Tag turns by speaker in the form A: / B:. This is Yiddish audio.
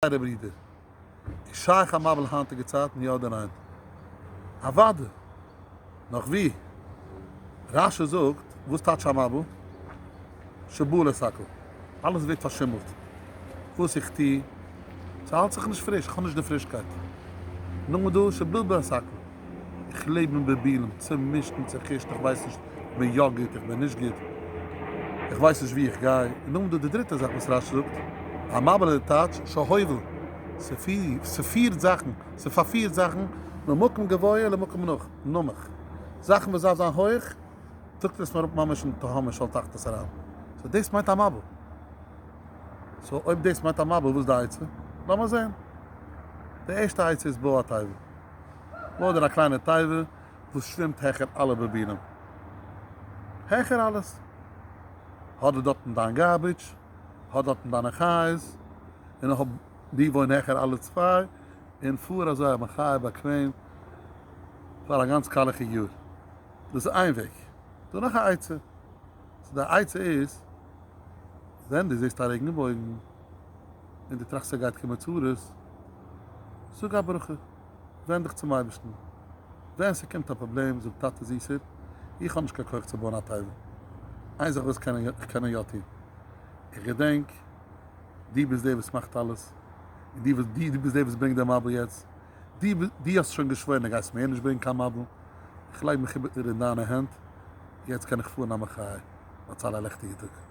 A: טייערע ברידער, איז שייך א מבול היינטיגע צייטן, יא אדער ניין? אוואדע! נאך ווי! רש י זאגט, וואס טייטש א מבול? שבול את הכל. אלעס ווערט פארשימלט. וואס איך טו, ס'האלט זיך נישט פריש, כ'האב נישט די פרישקייט. נאכדעם איז דא שבלבל את הכל. איך לעב אין בלבולים, צומישט און צעחושט, איך ווייס נישט, איך בין יא גוט, איך בין נישט גוט, איך ווייס נישט וואו איך גיי. און נאכדעם איז דא די דריטע זאך וואס רש זאגט, א מבול אין די טייטש של הובל, ס'פירט זאכן, ס'פארפירט זאכן, ממקום גבוה למקום נמוך, זאכן וואס דארף זיין הויך, טראגט עס מען אראפ ממש אין תהומות של תחתית אריין. סאו דאס מיינט א מבול. סאו אויב דאס מיינט א מבול, וואס איז די עצה? לאמיר זען. די ערשטע עצה איז בא א טייוול. אדער א קליינע תיבה וואס שווימט העכער אלע באבינען, העכער אלעס, האט די דארטן דיין גארביטש, האט דארטן דיינע חיות, און האב די וואוין העכער אלע צוויי, און פאר אזוי א מחיה באקוועם פאר א גאנץ קאלעכיג יאר. דאס איז איין וועג. דא נאך א עצה, סאו די עצה איז, ווען דו זעסט א רעגן בויגן, און דו טראכסט ס'גייט קומען צרות, זאג א ברכה, ווענד דיך צום אייבערשטן. ווען ס'קומט א פראבלעם זאג, טאטע זיסער, איך האב נישט קיין כח צו בויען א תיבה, איין זאך וואס איך קען יא טון, איך געדענק דו ביסט דער וואס מאכט אלעס, און דו וואס דו ביסט דער וואס ברענגט די מבול יעצט, דו וואס דו האסט שוין געשוואוירן אז גייסט מער נישט ברענגן קיין מבול, איך לייג מיך איבער אין דיינע הענט, יעצט קען איך פארן א מחיה, הצלה לעכטיגע טאג.